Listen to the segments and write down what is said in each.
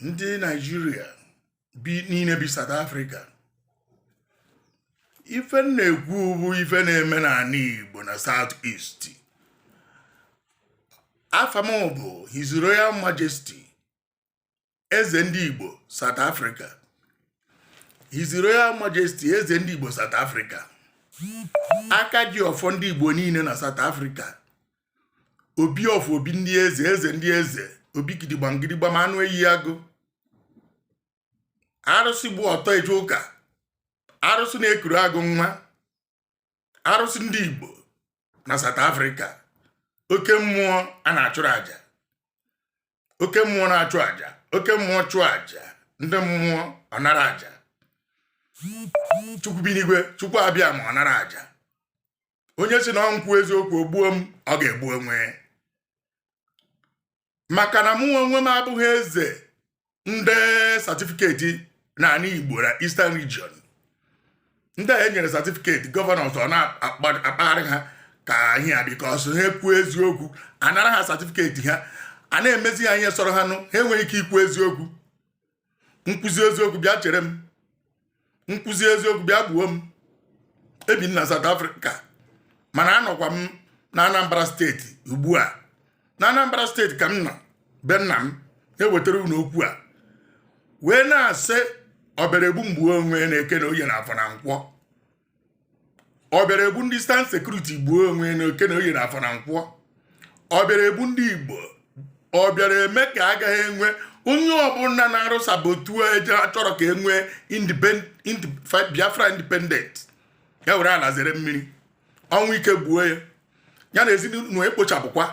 ndị naijiria bi niile bi South Africa ife m na-ekwu bụ ife na-eme n'anị Igbo na South East afa m bụ His Royal Majesty eze ndị Igbo South Africa His Royal Majesty eze ndị Igbo South Africa aka ji ọfọ ndị Igbo niile na South Africa obi of obi ndị eze eze ndị eze obi gidigba ngidigba ma anụ eyi agụ arụsị gba ọtọ eje ụka arụsị na-ekuru agụ nwa arụsị ndị igbo na South Africa oke mmụọ a na-achụrụ aja oke mmụọ na-achụ aja oke mmụọ chụọ aja ndị mmụọ ọ nara aja chukwu bi n'igwe chukwu abịama ọ nara aja onye sị na m kwuo eziokwu o gbuo m ọ ga-egbu onwe maka na mụ onwe m abụghị eze ndị satifiketi n'anị Igbo na Eastern Region ndị a e nyere satifiketi gọvanọs a na-akpagharị ha ka ihe a bikos ha kwuo eziokwu a nara ha satifiketi ha a na-emezi ha ihe sọrọ ha nụ ha enweghị ike ikwu eziokwu m kwuzi eziokwu bịa chere m m kwuzi eziokwu bịa gbuo m ebi m na South Africa mana anọkwa m na Anambra steeti ugbu a na Anambra steeti ka m nọ be nna m ewetara unu okwu a wee na-asị ọ bịara egbu m gbuo onwe na eke na oye na afọ na nkwọ ọ bịara egbu ndị Eastern sekuriti gbuo onwe na eke na oye na afọ na nkwọ ọ bịara egbu ndị igbo ọ bịara eme ka agaghị enwe onye ọbụla na-arụ sabotage achọrọ ka e nwee biafra independent ya were ala zere mmiri ọnwụ ike gbuo ya ya na ezinụlọ ekpochapụkwa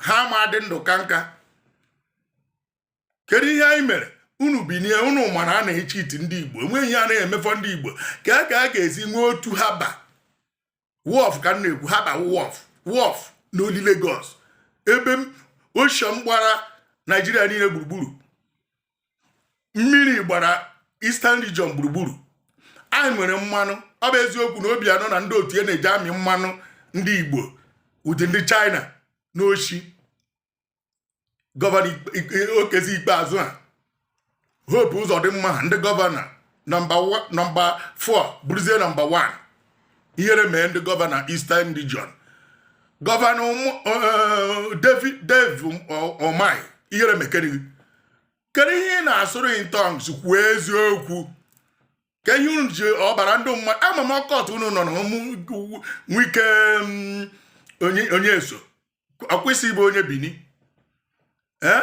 ha ama adị ndụ ka nka kedu ihe anyị mere unu binie unu ma na a na-echiiti ndị igbo enweghị ihe a na-emefọ ndị igbo ka a ka a ga-esi nwee otu harbour wharf ka m na-ekwu harbour wharf wharf na only Lagos ebe ocean gbara naijiria niile gburugburu mmiri gbara Eastern region gburugburu anyị nwere mmanụ ọ bụ eziokwu na Obiano na ndị otu ya na-eji amị mmanụ ndị igbo with ndị China n'oshi gọvanọ Okezie Ikpeazu a Hope Uzodimma ndị gọvanọ nọmba 4 bụrụzie nọmba 1 ihere mee ndị gọvanọ Eastern Region gọvanọ eh, David Dave Umahi ihere mekere kedu ihe ị na-asụrụ in tongues kwuo eziokwu ka ihe unu ji ọbara ndị mmadụ ama m occult unu nọ na Wike mm, onye eso ọkwa ị sị ịbụ onye bini ee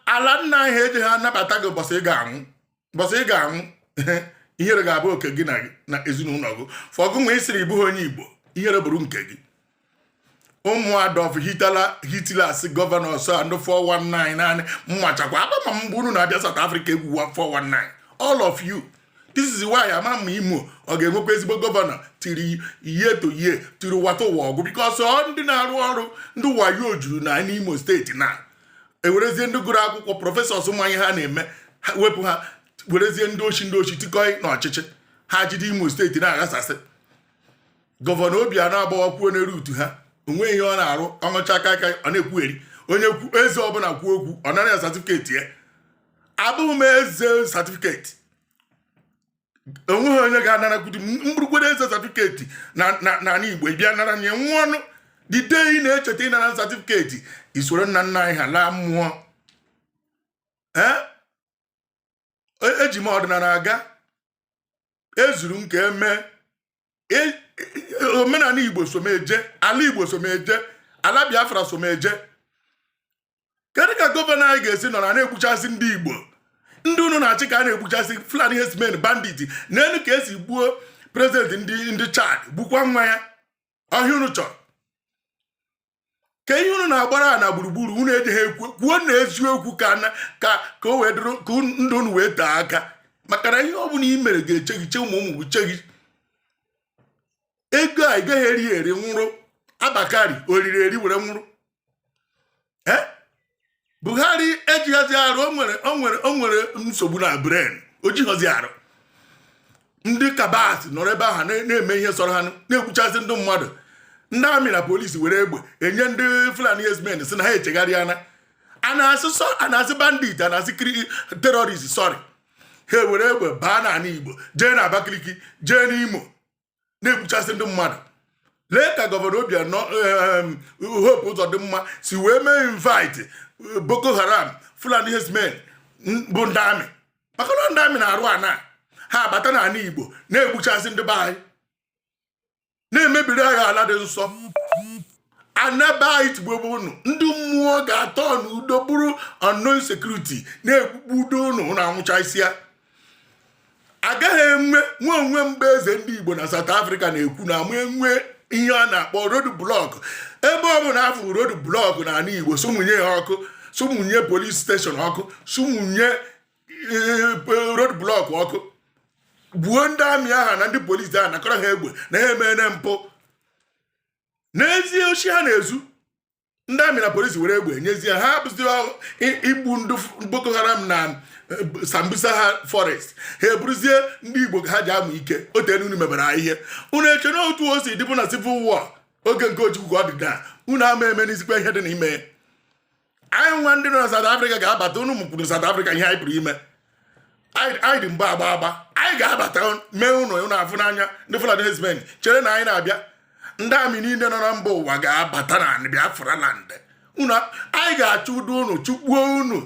ala nna anyị ejeha anabata gị ụbọchị ị ga-anwụ ihere ga-abụ oke gị na ezinụlọ gị for gịnwa isiri ịbụghị onye igbo ihere bụrụ nke gị ụmụ Adolf Hitler's gọvanọs and 419 naanị mmachakwa abama mgbe unu na-abịa South Africa egwu 419 all of you this is why ama m ma imo ọ ga-enwekwa ezigbo gọvanọ tiri ihe to ihe tiri wata ụwa ọgụ because ọ ndị na-arụ ọrụ ndị wayo juru na n'imo steeti na ewerezie ndị gụrụ akwụkwọ prọfesọs ma ihe ha na-eme wepụ ha werezie ndị oshi ndị oshi tikọị na ọchịchị ha jide imo steeti na-aghasasị gọvanọ Obianọ agbawakwuo n'eru utu ha onweghị ihe ọ na-arụ ọṅụcha kaị kaị ọ na-ekwugheri onye eze ọbụla kwuo okwu ọ nara ya satifiketi ya abụghị m eze satifiketi onweghị onye ga-anarakwudi m bụrụkwa eze satifiketi n'ala Igbo ị bịa nara nye nwa ọnụ the day ị na-echeta ịnara satifiketi isoro nna nna anyị ha laa mmụọ eji m ọdịnala aga ezuru m ka emee omenala Igbo so m eje ala Igbo so m eje ala Biafra so m eje kedu ka gọvanọ anyị ga-esi nọrọ ana-egbuchasị ndị igbo ndị unu na-achị ka a na-egbuchasị fulani herdsmen bandit neenụ ka esi gbuo prezidenti ndị ndị chad gbukwa nwa ya ọ ihe unu chọrọ ke ihe unu na-agbara ha na gburugburu unu ejighị ekwu kwuo na eziokwu ka ka ka o wee dịrị ka ndụ unu wee tee aka maka na ihe ọ bụla i mere ga-eche gị che ụmụ ụmụ gị che gị ego a ị gaghị eri eri nwụrụ Abba Kyari o riri eri were nwụrụ eh? buhari ejighazi arụ o nwere nsogbu na brain o jighọzi arụ ndị cabals nọrọ ebe ahụ na-eme ihe sọrọ ha na-egbuchasị ndị mmadụ ndị amị na polisi were egbe enye ndị fulani herdsmen sị na ha echegharịana a na-asị bandit a na-asị terrorist sorry ha were egbe baa n'ala igbo jee na abakaliki jee n'imo na-egbuchasị ndị mmadụ lee ka gọvanọ Obianọ Hope Uzodimma si wee mee invite eh, Boko Haram Fulani herdsmen bụ ndị amị maka na ndị amị na-arụ ana ha abata n'ala Igbo na-egbuchasị ndị be anyị na-emebiri anyị ala dị nsọ ana be anyị tigbugbuo unu ndị mmụọ ga-atọ n'udo bụrụ unknown security na-egbugbudo unu na anwụchasịa agaghị enwe nwe onwe mgbe eze ndị Igbo na South Africa na-ekwu na ama enwe ihe a na-akpọ road block ebe ọ bụla a fụrụ road block na ala Igbo sụmụnye ya ọkụ sụmụnye polis steshọn ọkụ sụmụnye eh, road block ọkụ gbuo ndị amị ahụ na ndị polisi ahụ nakọrọ ha egbe na ha emene mpụ na-ezu oshi ha na-ezu ndị amị na polisi were egbe e nyezie ha bụzi igbu ndị boko haram na eh, sambisa ha forest ha bụrụzie ndị igbo ka ha ji amụ ike o tere unu mebere ha ihe unu eche na otu o si dịbụ na civil war oge nke ojukwu ka ọ dị taa unu ama emenizikwa ihe dị n'ime anyị nwa ndị nọ na South Africa ga-abata unu mụkwuru South Africa ihe anyị pụrụ ime anyị dị mgbe agba agba anyị ga-abata mee unu unu afụ n'anya ndị Fulani herdsmen chere na anyị na-abịa ndị amị niile nọ na mba ụwa ga-abata na Biafra land unu anyị ga-achụdo unu chụkpuo unu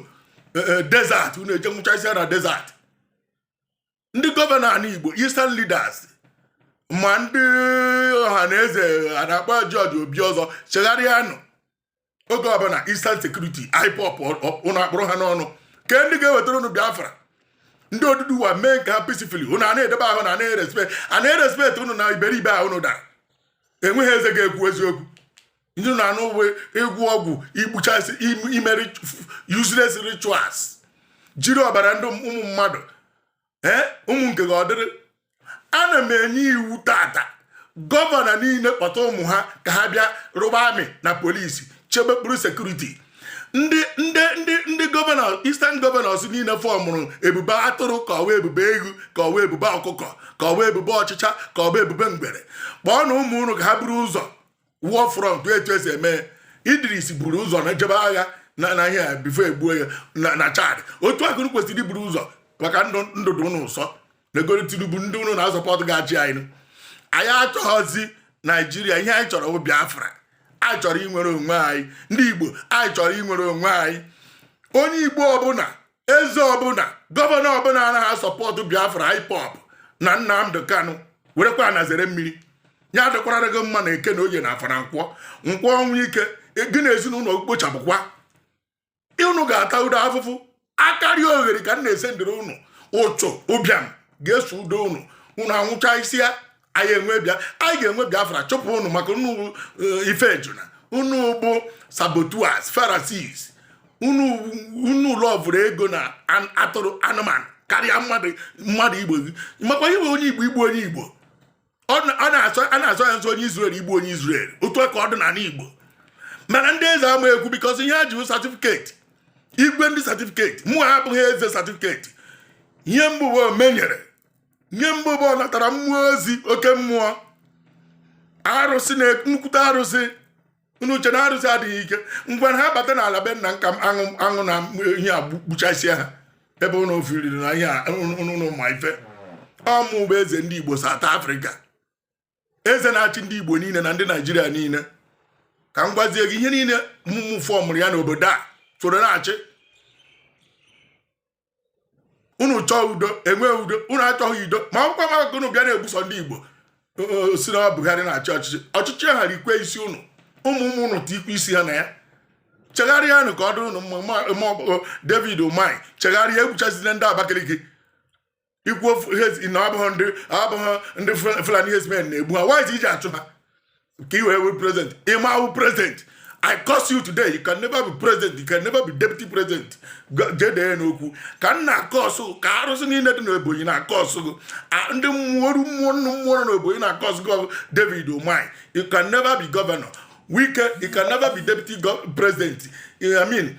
e, e, desert unu eje nwụchasịa na desert ndị gọvanọ ala Igbo eastern leaders ma ndị ọha na eze a na-akpọ George Obiozor chegharịanụ oge ọbụla Eastern Security IPOB ụnụ akpụrụ ha n'ọnụ ke ndị ga-ewetara ụnụ Biafra ndị Oduduwa mee nke ha peacefully ụnụ a na-edebe ahụ na na-erespekt a na-erespekt ụnụ na iberibe ahụ ụnụ dara enweghị eze ga-ekwu eziokwu ndị na-anọ ịgwọ ọgwụ igbuchasị ime useless rituals jiri ọbara ndị ụmụ mmadụ ee ụmụ nke gị ọ dịrị ana m enye iwu tata gọvanọ niile kpọta ụmụ ha ka ha bịa rụba amị na polisi chebe kpụrụ sekuriti ndị ndị ndị ndị gọvanọ eastern gọvanọs niile fọmụrụ ebube atụrụ ka ọ bụ ebube eghu ka ọ bụ ebube ọkụkọ ka ọ bụ ebube ọchịcha ka ọ bụ ebube ngwere kpọọnụ ụmụ unu ka ha buru ụzọ war front etu esi eme idris buru ụzọ na jebe agha na na ihe bifo egbuo ya na chad otu a ka ụnụ kwesịrị iburu ụzọ maka ndụ dị ụnụ ụsọ negodu tinubu ndị ụnụ na-asọpọtụ ga-achị anyị anyị achọghọzi naijiria ihe anyị chọrọ bụ biafra anyị chọrọ inwere onwe anyị ndị igbo anyị chọrọ inwere onwe anyị onye igbo ọbụla eze ọbụla gọvanọ ọbụla anaghị asọpọtụ biafra ipob na nnamdị kanụ werekwa ana zere mmiri ya adịkwara gị mma na eke na oye na afọ na nkwọ nkwọ ọnwụ ike e, gị na ezinụlọ kpochapụkwa unu ga-atado afụfụ akariogheri ka m na-ese ndịrị unu uchu ụbịam ga-esodo unu unu anwụchasịa anyị enwe bịa anyị ga-enwe biafra chụpụ unu maka unu eh, ife ejuna unu bụ saboteurs pharisees unu unu lọvụrụ ego na atụrụ anụmanụ karịa mmadụ mmadụ igbo gị makwa ihe onye igbo igbu onye igbo a na-asọ ya nsọ onye israel igbu onye israel otu ka ọ dị n'ala igbo mana ndị eze ama ekwu because ihe ha ji certificate igwe ndị certificate mụwa abụghị eze certificate ihe m bụ bụ omenyere nye m bụ bụ ọ natara mmụọ ezi oke mmụọ arụsị na nnukwute arụsị unu chee na arụsị adịghị ike ngwa ha bata n'ala be nna nka aṅụ aṅụ na ihe a gbuchasịa ha ebe unu fiilịrị na ihe unu ma ife ọ mụ bụ eze ndị Igbo South Africa eze na-achị ndị igbo niile na ndị naijiria niile ka m gwazie gị ihe niile mụ mụ fọmụrụ ya n'obodo a soro na-achị unu chọọ udo e nwee udo unu achọghị udo ma ọkwa ma unu bịa na-egbusi ndị igbo si na Buhari na-achị ọchịchị ọchịchị a rikwe isi unu ụmụ ụmụ unu tikwe isi ha na ya chegharịanụ ka ọ dịrị unu David Umahi chegharịa egbuchazina ndị Abakaliki ikwu na abụghị ndị abụghị ndị Fulani herdsmen na-egbu ha why i ji achụ ha ka i wee wee president ị ma awụ president I curse you today you can never be president you can never be deputy president jedee n'okwu ka m na-akọsụ ka arụsị niile dị n'Ebonyi na-akọsụ gị ndị mmụọ mmụọ nnu mmụọ nọ n'Ebonyi na-akọsụ gị David Umahi you can never be governor Wike you can never be deputy president I mean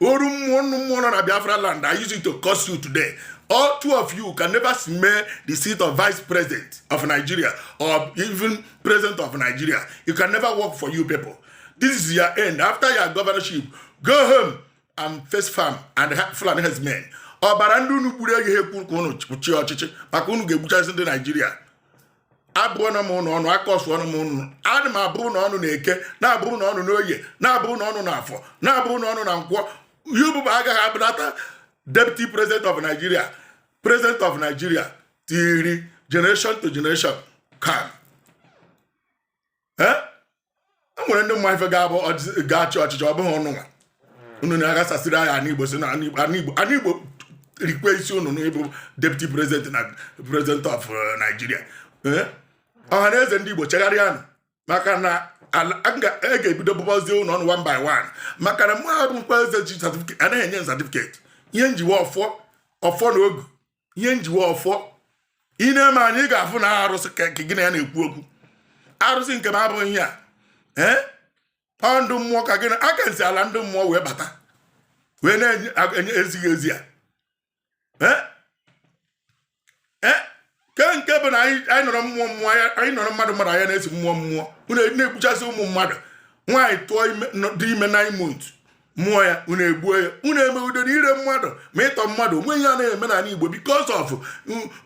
oru mmụọ nnu mmụọ nọ na biafra land i use it to curse you today all two of you can never smell the seat of vice president of nigeria or even president of nigeria it can never work for you people this is your end after your governorship go home and face farm and fulani herdsmen ọbara ndị unu gburu aha ekwe ka unu chịa ọchịchị maka unu ga-egbuchasị ndị naijiria abụọna m unu ọnụ akọsụọna m unu ana m abụrụ unu ọnụ n'eke na-abụrụ unu ọnụ n'oye na-abụrụ unu ọnụ n'afọ na-abụrụ unu ọnụ na nkwọ unu ịbụa agaghị abụnata deputy president of nigeria president of nigeria till generation to generation come e nwere ndị ma ife ga-abụ ga-achị ọchịchị ọ bụghị unu nwa unu na-aghasasịrị anyị ana igbo si na ana igbo rikwe isi unu n'ịbụ deputy president na president of uh, Nigeria eh? ọhanaeze ndị igbo chegharịanụ maka na m ga-ebido bụbazie unu ọnụ one by one maka na mụ abụkwa eze ji certificate anaghị enye certificate ihe m ji wụ ọfọ ọfọ na ogu ihe njiwe ọfọ ị na-eme anyị ị ga-afụ na arụsị ka gị na ya na-ekwu okwu arụsị nke m abụghị ihe a ee ọ ndị mmụọ ka gị na aka nsi ala ndị mmụọ wee bata wee na-enye ezighị ezi a ke nke bụ na anyị nọrọ mmụọ mmụọ anyị nọrọ mmadụ mmadụ anya na-esi mmụọ mmụọ unu na-egbuchasị ụmụ mmadụ nwaanyị tụọ dị ime nine months mụọ ya unu egbuo ya unu eme udo na ire mmadụ ma ịtọ mmadụ o nwe ihe a na-eme n'ala Igbo because of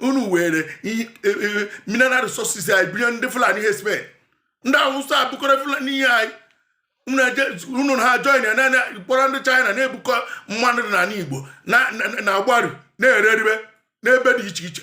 unu were e, e, mineral resources anyị bunye ndị Fulani herdsmen ndị Awụsa bụkọrọ Fulani ihe anyị unu ha join ya na kpọrọ ndị China na-ebukọ mmadụ n'ala Igbo na-agbaru na-ere eribe n'ebe dị iche iche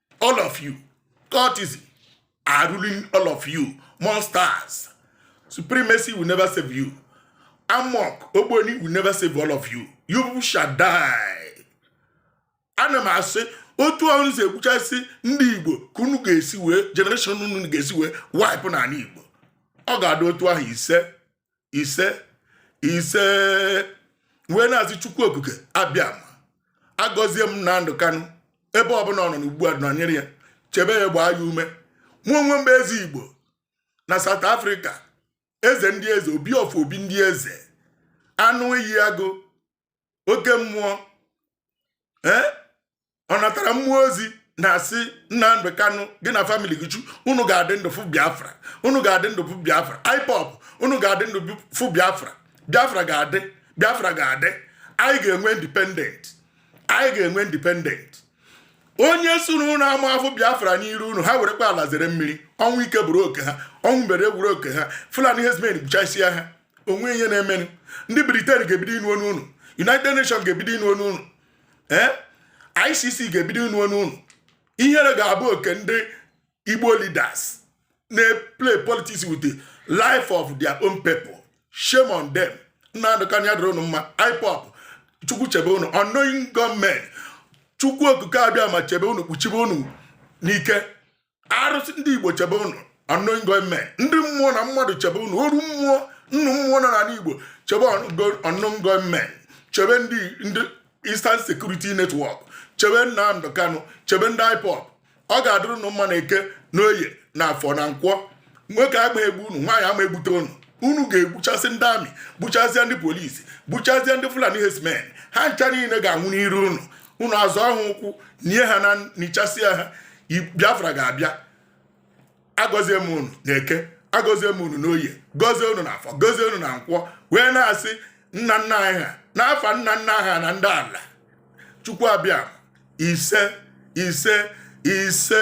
all of you cultists are ruling all of you monsters supremacy will never save you AMORC ogboni will never save all of you you shall die ana m asị otu ahụ unu si egbuchasị ndị igbo ka unu ga-esi wee generation unu ga-esi wee wipe n'ala igbo ọ ga-adị otu ahụ ise ise ise wee na-asị chukwu okike abịama gọzie Nnamdi Kanu ebe ọbụla ọ nọ n'ugbu a nọnyere ya chebe ya gbaa ya ume mụ onwe m bụ eze igbo na South Africa eze ndị eze obi of obi ndị eze anụ iyi agụ oke mmụọ ee eh? ọ natara mmụọ ozi na-asị Nnamdi Kanu gị na family gị chu unu ga-adị ndụ fụ Biafra unu ga-adị ndụ fụ Biafra IPOB unu ga-adị ndụ fụ Biafra Biafra ga-adị Biafra ga-adị anyị ga-enwe independent anyị ga-enwe independent onye sị na unu ama afụ Biafra n'iru unu ha werekwa ala zere mmiri ọnwụ ike bụrụ oke ha ọnwụ mberede bụrụ oke ha Fulani herdsmen gbuchasịa ha o nwe ihe na-emenụ ndị Britain ga-ebido ịnụ onu unu united nations ga-ebido ịnụ onu unu ee icc ga-ebido ịnụ onu unu ihere ga-abụ oke ndị igbo leaders na-play politics with the life of their own people shame on them Nnamdi Kanu ya dịrị unu mma IPOB chukwu chebe unu unknown gunmen chukwu okike abịama chebe unu kpuchibe unu n'ike arụsị ndị igbo chebe ụnụ unknown gunmen ndị mmụọ na mmadụ chebe ụnụ oru mmụọ nnụ mmụọ nọ n'ala igbo chebe unknown gunmen chebe ndị ndị Eastern Security Network chebe Nnamdi Kanu chebe ndị IPOB ọ ga-adịrị ụnụ mma na eke na oye na afọ na nkwọ nwoke ama egbu unu nwaanyị ama egbute unu unu ga-egbuchasị ndị army gbuchasịa ndị police gbuchasịa ndị fulani herdsmen ha ncha niile ga-anwụ n'iru unu unu azọọ ha ụkwụ nie ha na nichasịa ha biafra ga-abịa agọzie m unu na eke agọzie m unu n'oye gọzie unu na afọ gọzie unu na nkwọ wee na-asị nna nna anyị ha n'afa nna nna ha na ndị ala chukwu abịa ise ise ise